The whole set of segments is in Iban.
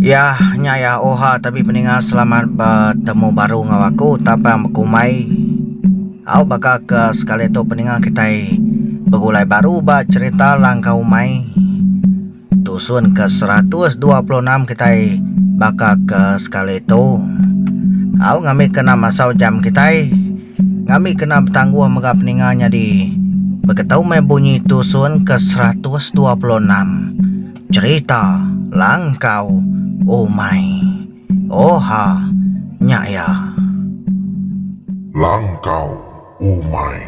Yah nya ya oha tapi peninga selamat betemu baru ngau aku tapang bekumai au baka ke sekali tu peninga kitai begulai baru ba cerita langkau umai. Tusun ke seratus dua puluh enam kitai baka ke sekali tu. Au ngami kena masau jam kitai. Ngami kena betangguh mega peninga nyadi beketu meh bunyi tusun ke seratus dua puluh enam. Cherita langkau umai. Oha nya iya. Langkau umai.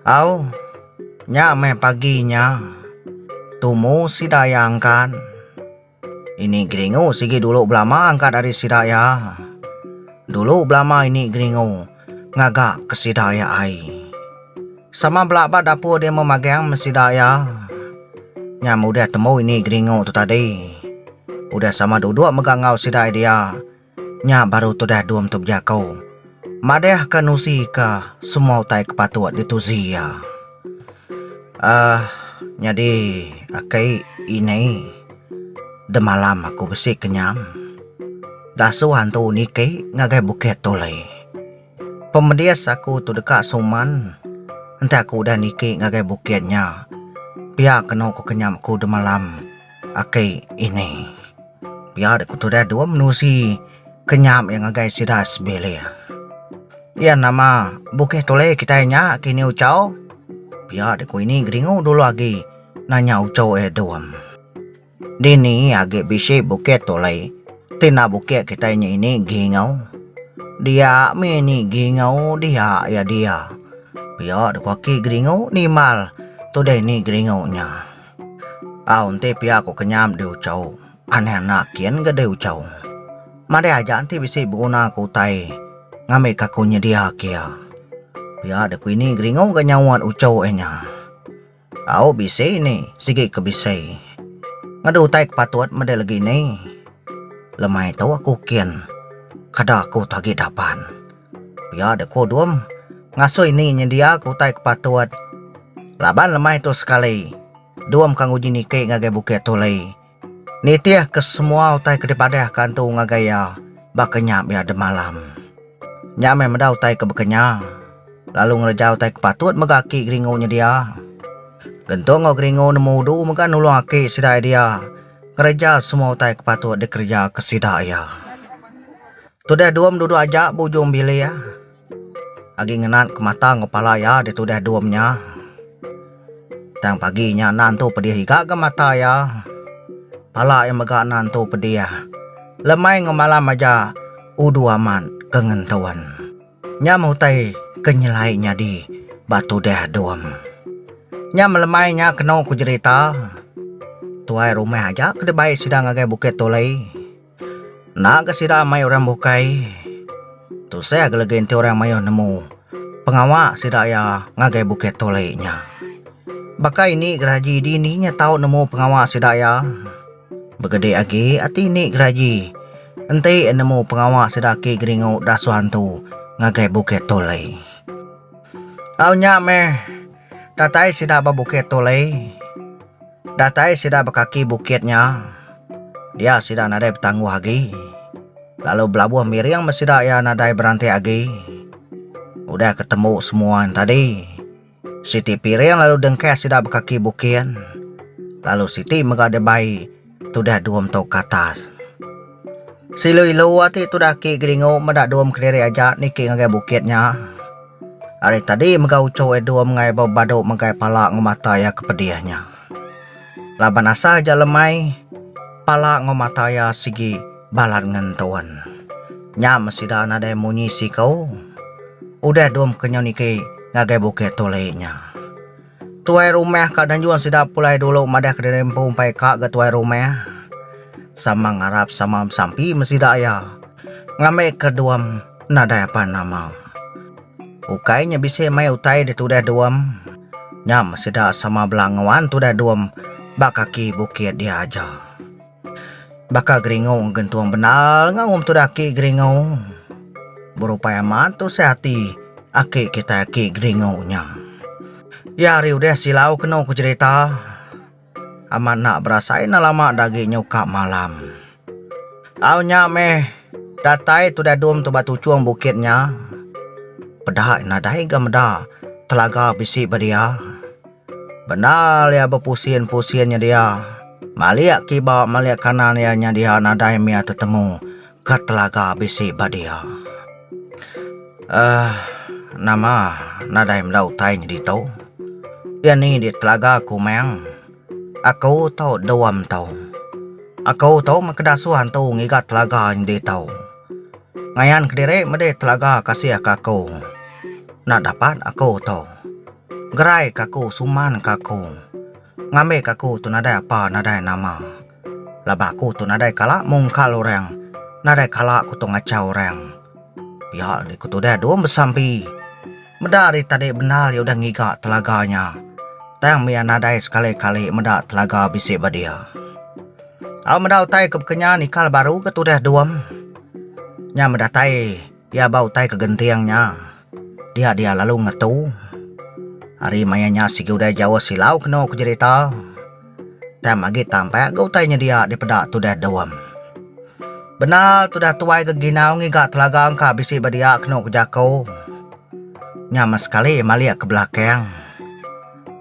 Au, nya meh pagi nya tumu sida iya angkat. Ini geringu sigi dulu belama angkat ari sida iya. Dulu belama ini geringu ngaga ke sida iya ai. Sama bela ba dapur dia meh magang me sida iya. Nya meh udah temu ini geringu tu tadi. Udah sama duduk mega enggau sida iya dia. Nya baru tudah Dum tu bejako. Madah ka nusi ka semua utai ke patut di tuzi iya. Ahh nyadi aki inai demalam aku besi kenyam. Dasuh antu niki ngagai bukit tu lay. Pemedis aku tu deka suman enti aku udah niki ngagai bukit nya. Pia kenu ku kenyam aku demalam. Aki ini pia dek ku tudah dua menusi ke nyam iya ngagai sida sebilik. Iya nama bukih tulih kitai nya kini Uchau. Pia dek ku ini gedingu dulu agi nanya Uchau iya Dum. Dini agi bisi bukih tulih ti enda bukih kitai nya ini gingau. Dia mih ini gingau dia iya dia. Pia dek ku aki gedingu nimbal tudah ini gedingu nya. Au enti pia ko kenyam deh uchau aneh anak kian ga deh uchau madai aja enti bisi beguna ko utai ngambi ka ko nyedia ke iya pia deh ko ini geringo ga nyauan uchau eh nya au bisi ni sigi ke bisi ngadu utai ke patut meda legi ni lemai tu aku kin kada ko agi dapan. Pia deh ku Dum. Ngasui ni nyendiaka utai ke patut. Laban lemai tu sekali, Dum ke nguji niki ngagai Bukit Tuli. Nitihka semua utai ke dipadahka Entu ngagai iya baka nya bia demalam. Nya meh meda utai ke baka nya. Lalu ngereja utai ke patut mega aki Geringu nyedia. Gentung enggau Geringu nemu udu mega nulung aki sida iya dia ngereja semua utai ke patut dikerejaka sida iya. Tudah Duom duduk aja ba ujung bilik agi ngenat ke mata enggau pala iya deh tudah Duom nya. Tang pagi nya anak entu pedih iga ga mata iya. Pala iya mega anak entu pedih lemai enggau malam aja udu amat ke ngentuan. Nya meh utai ke nyelai nyadi ba tudah Duom. Nya meh lemai nya kenu ku jerita tuai rumah aja ke dibai sida ngagai Bukit Tulei. Enda ga sida amai orang bukai tusah agi lagi enti orang mayuh nemu pengawa sida iya ngagai Bukit Tole nya. Baka ini geraji dini nya tau nemu pengawa sida iya begede agi ati ini geraji enti nemu pengawa sida aki geringu dasuh antu ngagai Bukit Tole. Au nya meh Datai sida ba bukit tu alai. Datai sida ba kaki bukit nya. Dia sida nadai betangguh agi. Lalu belabuh miring meh sida iya nadai berantik agi. Udah ke tembu semua nya tadi, siti piring lalu dengkah sida ba kaki bukit. Lalu siti mega dibai. Tudah Duum tau Katas. Silu ilu ati tudah aki Geringu meda Duum kediri aja niki ngagai bukit nya. Ari tadi mega uchu ai Duum ngai bau badu megai pala enggau mata iya ke pedih nya. Laban asa aja lemai pala enggau mata iya sigi balat ngentun. Nya meh sida nadai munyi siku. Udah Duum kenyau niki ngagai bukit tuli nya. Tuai rumah ka Danjung sida pulai dulu madah kediri empu empai ka ga tuai rumah. Sama ngarap sama besampi me sida iya. Ngambi ke duam nadai apan nama. Ukai nya bisi mai utai ditudah duam. Nya me sida sama bela nguan tudah duam ba kaki bukit dia aja. Baka Geringo gentung bendar ngaum tudah aki Geringo. Berupai amat tusah ati aki kitai aki Geringo nya. Iya ari udah silau kenu ku jerita amat enda berasai enda lama da agi nyuka malam. Au nya meh datai tudah dum tu ba tuchung bukit nya peda nadai ga meda telaga bisi ba dia. Bendar iya bepusin-pusin nyedia. Malik kiba malik kanan iya nyedia nadai mia tetemu ke telaga bisi ba dia. Aah nama nadai meda utai nyadi ito. Iya ni di telaga aku meng. Aku to duam to. Aku to meh ke dasuh antu ngiga telaga nyadi ito. Ngayan kediri medi telaga kasih ka aku. Enda dapat aku to. Gerai ka aku suman ka aku. Ngambi ka aku tu nadai apa nadai nama. Laban aku tu nadai kala mungkal orang, nadai kala aku tu ngachau orang. Pia deh ku tudah Dum besampi. Meda ari tadi bendar iya udah ngiga telaga nya. Tang mia nadai sekali kali meda telaga bisi ba dia. Au meda utai ke bekenyan ikal baru ke tudah Dum. Nya meda tai. Pia ba utai ke genting nya, dia dia lalu ngetu. Ari maya nya sigi udah jauh silau kenu ku jerita. Tang agi tampak ga utai nyedia dipeda tudah Dom. Bendar tudah tuai ga ginau ngiga telaga engka bisi ba dia kenu ku jaku. Nya meh sekali iya malik ke belakang.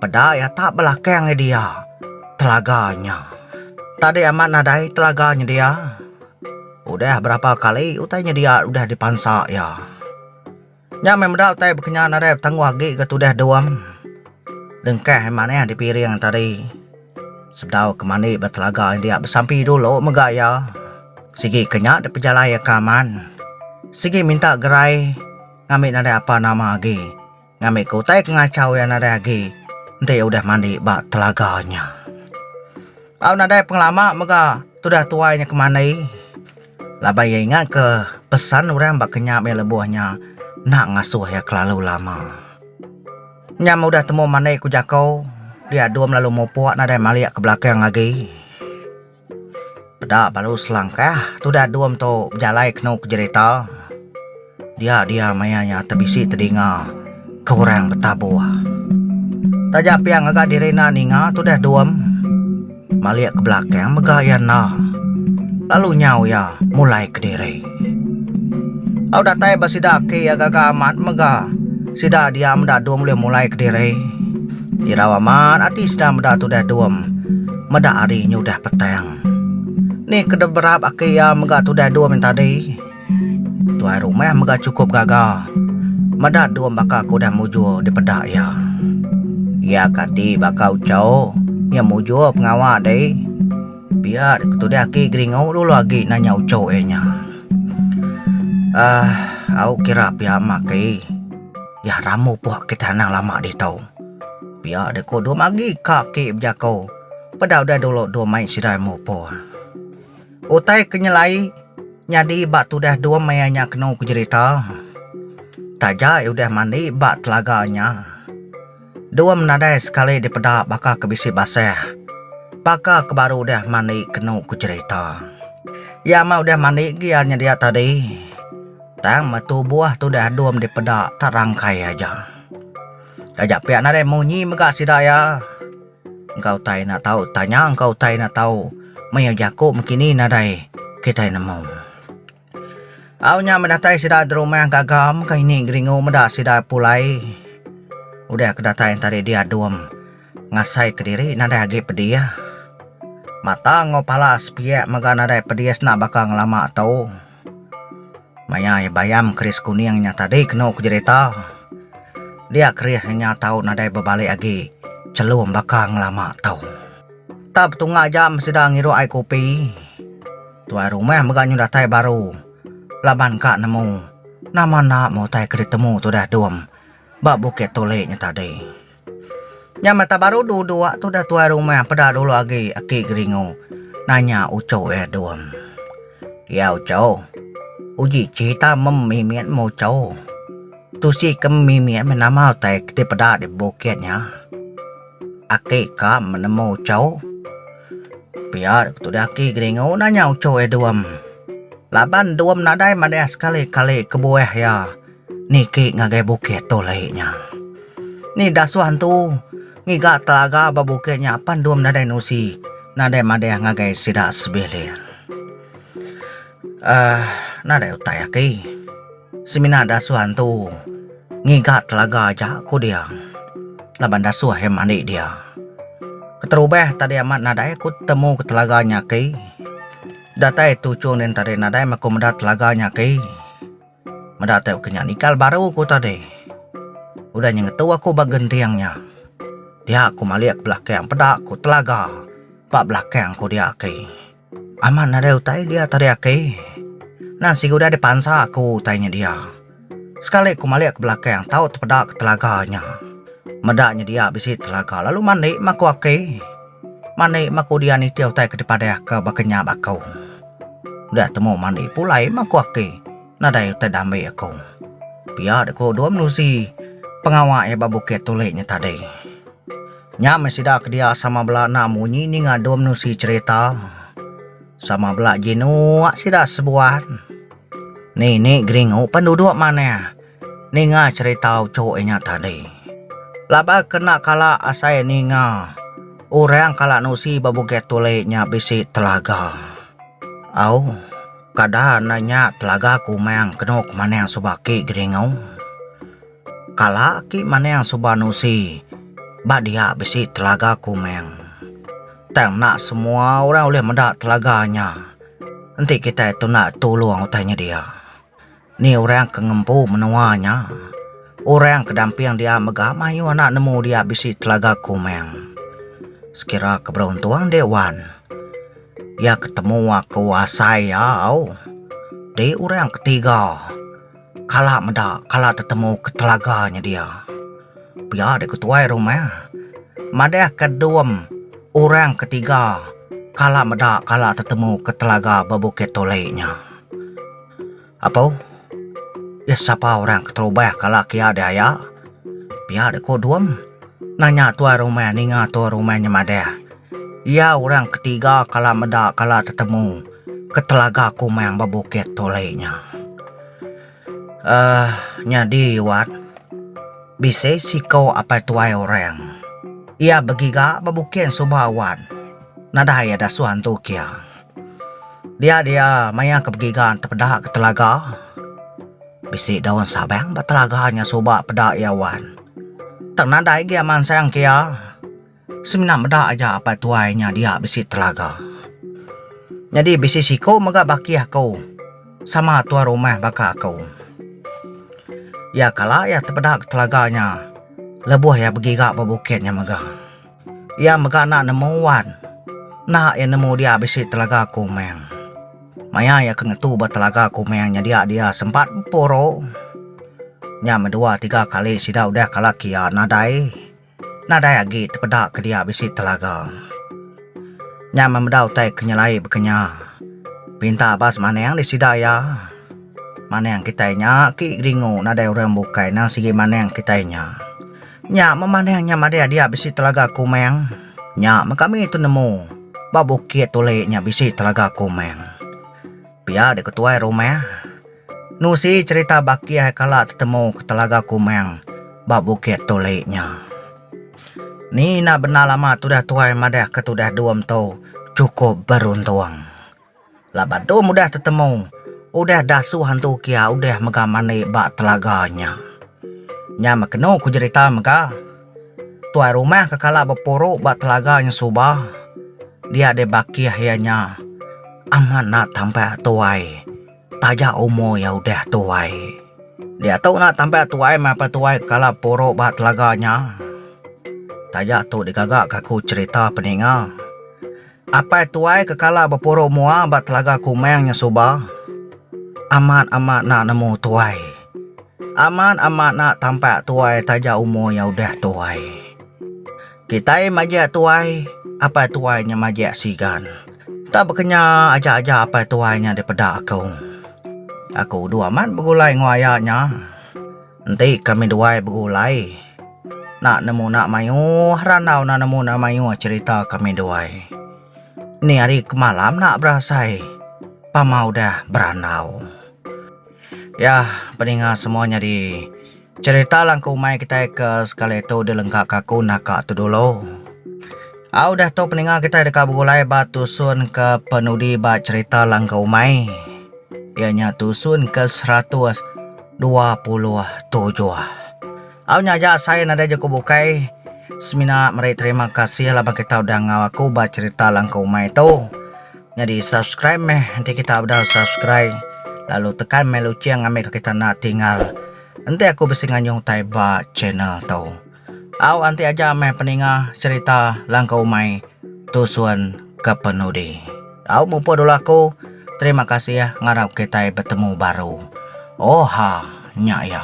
Peda iya tak belakang iya dia telaga nya. Tadi amat nadai telaga nyedia. Udah berapa kali utai nyedia udah dipansa iya. Nya meh meda utai bekenyan nadai betangguh agi ke tudah dung. Dengkah manah dipiring tadi. Sebedau ke mandi ba telaga india besampi dulu mega iya. Sigi ke nya dipejalai iya ke aman. Sigi minta gerai ngambi nadai apa nama agi. Ngambika utai ke ngachau iya nadai agi enti iya udah mandi ba telaga nya. Au nadai pengelama mega tudah tuai nya ke mandi laban iya ingatka pesan orang ba kenyap iya lebuh nya enda ngasuh iya kelalu lama. Nyam udah temu mandi ku jaku dia dum lalu mupuk nadai malik ke belakang agi. Peda balu selangkah tudah dum tu bejalai kenu ke jerita. Dia dia maya nya tebisi tedinga ke orang betabuh. Taja pia ngaga diri enda ninga tudah dum malik ke belakang mega iya enda lalu nyau iya mulai kediri. Au datai ba sida aki iya gaga amat mega sida diau meda dum ulih mulai kediri. Irau amat ati sida meda tudah dum meda hari nyudah petang. Ni ke dep berap aki iya mega tudah dum yen tadi. Tuai rumah mega chukup gaga meda dum baka ke udah mujur dipeda iya. Iya ke ati baka ucho iya mujur pengawa deh. Pia dek ketudi aki Geringu dulu agi nanya uchu iya nya. Ah, au kira pia mah aki. Yah ramu puh kitai anang lama ditu. Pia dek ku dua magi ka aki bejaku peda udah dulu dua mai sidai mupur. Utai ke nyelai nyadi ba tudah dua mai iya nya kenu ku jerita. Taja iya udah mandi ba telaga nya. Dum nadai sekali dipeda baka ke bisi basah. Baka ke baru udah mandi kenu ku cherita. Iya mah udah mandi agi iya nyedia tadi. Tang meh tubuh tu udah dum dipeda tak rangkai aja. Taja pia nadai munyi mega sida iya. Engka utai enda tau tanya engka utai enda tau maioh jaku mekini nadai kitai nemu. Au nya bedatai sida Dromang Gagam ka ini Geringu meda sida pulai udah ke datai enti ari dia Dom ngasai kediri nadai agi pedih mata enggau pala sepiak mega nadai pedih senda baka ngelama tu maya iya bayam keris kuning nya tadi kenu ku jerita dia keris nya tau nadai bebalik agi chelum baka ngelama tu. Tap tunga jam sida ngirup ai kopi, tuai rumah mega nyau datai baru laban ka nemu nama enda meh utai ke ditemu tudah dom ba bukit tulik nya tadi. Nya meh tak baru dulu dua tu dah tuai rumah peda dulu agi aki Geringo nanya uchu iya dom. Iya uchu, uji cerita mem mimit meh uchu. Tusi ke mimit meh nama utai dipeda di bukit nya. Aki ka menemu uco. Pia ketu dia aki geringu nanya uco iya duam. Laban duam nadai madah sekali kali kebuah iya niki ngagai bukit tu lei nya. Ni dasuh antu ngiga telaga ba bukit nya apan duam nadai nusi nadai madah ngagai sida sebilik. Ahh nadai utai aki. Semina dasuh antu ngiga telaga aja ku dia laban dasuh iya mandi dia. Keterubah tadi amat nadai ku temu ke telaga nya aki. Datai tuchung nen tadi nadai meh ku meda telaga nya aki. Meda tau ke nya nikal baru ku tadi. Udah nya ngetu aku ba genting nya. Dia ku malik belakang peda ku telaga ba belakang ku dia aki. Amat nadai utai dia tadi aki. Nan sigu dia dipansa aku utai nya dia. Sekali ku malik ke belakang tau tepeda ke telaga nya. Meda nya dia bisi telaga lalu mandi meh aku aki. Mandi meh aku dia nitih utai ke dipadah ke baka nya ba aku. Dia temu mandi pulai meh aku aki. Nadai utai dambi aku. Pia dek ku dua menusi pengawa iya ba bukit tulik nya tadi. Nya meh sida ke dia sama bela enda munyi ninga dua menusi cherita. Sama bela jinuk sida sebuan. Ninik Geringu pan duduk manah ninga cherita uchu iya nya tadi. Laban ke enda kala asai ninga orang kala nusi ba bukit tulik nya bisi telaga. Au. Kada enda nya telaga ku Umang kenu ke manang suba aki Geringu. Kala aki manang suba Nusi ba dia bisi telaga ku Umang. Tang enda semua orang ulih meda telaga nya. Enti kitai tunda tulung utai nyedia. Ni orang ke ngempu menua nya? Orang ke damping dia mega mayuh anak nemu dia bisi telaga kumang. Sekira ke beruntung dih wan. Iya ke temu aku asai iya au. Di orang ke tiga kala meda kala tetemu ke telaga nya dia. Pia dih ke tuai rumah. Madah ke dom orang ke tiga kala meda kala tetemu ke telaga ba Bukit Tuli nya. Apo? Iya sapa orang keterubah kala kia diaya? Pia dek ku Dum nanya tuai rumah ninga tuai rumah nyemadah. Iya orang ketiga kala meda kala tetemu ke telaga Kumang ba bukit Tuli nya. Uhh nyadi Wat, bisi siko apai tuai orang. Iya begiga ba bukit suba Wat. Nadai iya dasuh antu kia. Dia dia maya ke begiga tepeda ke telaga bisi daun sabang ba telaga nya suba peda iya wan. Tang nadai agi a mansang ke iya semina meda aja apai tuai nya dia bisi telaga. Nyadi bisi siku mega baki aku sama tuan rumah baka aku. Iya kala iya tepeda ke telaga nya lebuh iya begiga ba bukit nya mega. Iya mega enda nemu wan. Enda iya nemu dia bisi telaga Komang. Maya iya ke ngetu ba telaga Komang nyedia dia sempat bepuru. Nya meh dua tiga kali sida udah kalak iya nadai nadai agi tepeda ke dia bisi telaga. Nya meh meda utai ke nyelai baka nya. Pinta ba semanang di sida iya. Manang kitai nya agi geringu nadai orang bukai nang sigi manang kitai nya. Nya memanah nya madai adia bisi telaga kumang. Nya men kami tu nemu ba bukit tuli nya bisi telaga kumang. Pia deh ketuai rumah. Nusi cerita baki hai kala tetemu ke telaga kumang ba bukit tuli nya. Ni na bendar lama tudah tuai madah ke tudah dua mentu cukup beruntung. Laban tu mudah tetemu udah dasu hantu kia udah mega mandi ba telaga nya. Nya meh kenu ku jerita mega. Tuai rumah ke kala bepuru ba telaga nya suba dia deh bakih iya nya amat enda tampak tuai taja umur iya udah tuai. Diatu enda tampak tuai meh pa tuai kala puru ba telaga nya. Taja tu digaga ka aku cerita peninga. Apai tuai ke kala bepuru mua ba Telaga Kumang nya suba amat amat enda nemu tuai. Amat amat enda tampak tuai taja umur iya udah tuai. Kitai majak tuai, apai tuai nya majak sigan. Enda bekenya aja aja apai tuai nya dipeda aku. Aku udu amat begulai enggau aya nya. Enti kami duai begulai nak nemu nak mayuh randau nak nemu nak mayuh cerita kami duai. Ni hari kemalam nak berasai pama udah berandau. Yah peninga semua nyadi cerita langku umai kitai ke sekali tu dilengka ka aku naka tu dulu. Au udah tu peninga kitai deka begulai ba tusun ke penudi ba cerita langkau umai. Iya nya tusun ke seratus dua puluh tujuh. Au nya aja asai nadai je ku bukai. Semina meri terima kasih laban kita udah ngau aku ba cerita langkau umai tu. Nyadi subscribe meh enti kita udah subscri lalu tekan meh luching ambika kita enda tinggal. Enti aku bisi nganyung utai ba channel tu. Au anti aja meh peninga cerita langkau umai tusun kepenudi. Au mupuk dulu aku terima kasih ngarap kitai betemu baru. Oha nya iya.